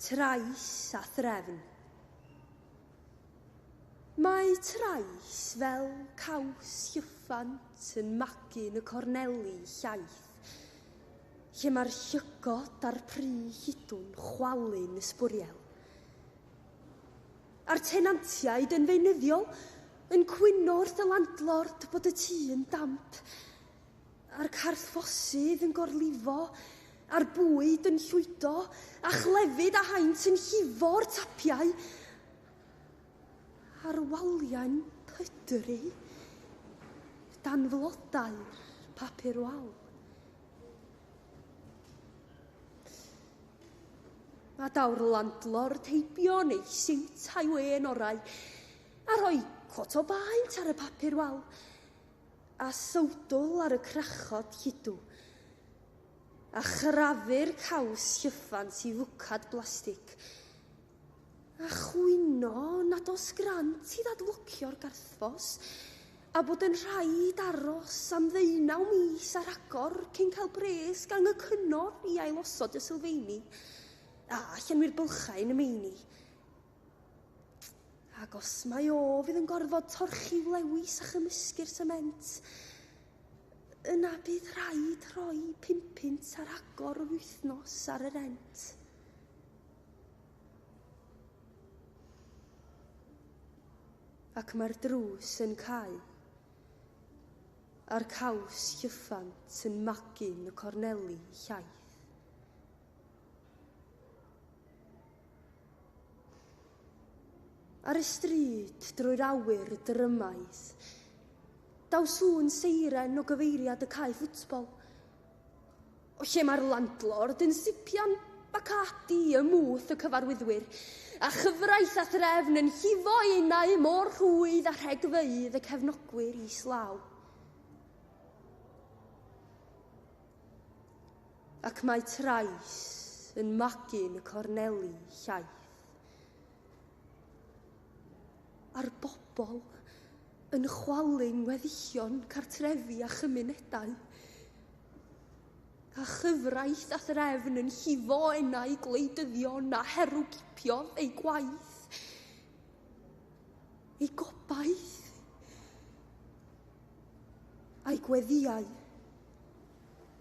Trais a threfn. Mae trais fel caws llyffant yn magu yn y corneli llaith, lle mae'r llygod a'r pry hidw'n chwalu'n ysbwriel, a'r tenantiaid yn feunyddiol yn cwyno wrth y landlord bod y tŷ yn damp. a'r carthffosydd yn gorlifo, a'r bwyd yn llwydo, a chlefyd a haint yn llifo'r tapiau, a'r waliau'n pydru dan flodau'r papur wal. A daw'r landlord heibio neu siwt a'i wen orau, a rhoi cot o baent ar y papur wal, a sowdl ar y crachod lludw, a chrafu'r caws llyffant i fwcad blastig, a chwyno nad oes grant i ddadlwcio'r garthffos, a bod yn rhaid aros am ddeunaw mis ar agor cyn cael pres gan y cyngor i ailosod y sylfeini, a llenwi'r bylchau yn y meini. Ac os mae o fydd yn gorfod torchi'w lewis a chymysgu'r sement, yna bydd rhaid rhoi pum punt ar agor yr wythnos ar y rent. Ac mae'r drws yn cau, a'r caws llyffant yn magu'n y corneli llaith. Ar y stryd, drwy'r awyr drymaidd, daw sŵn seiren o gyfeiriad y cae ffwtbol. O lle mae'r landlord yn sipian Bacardi ym mwth y cyfarwyddwyr, a chyfraith a threfn yn llifo enau mor rhwydd a rhegfeydd y cefnogwyr islaw. Ac mae trais yn magu'n y corneli llaith. A'r bobl yn chwalu'n weddillion cartrefi a chymunedau. A chyfraith a threfn yn llifo enau gwleidyddion a herwgipiodd eu gwaith. Ei gobaith. A'i gweddiau.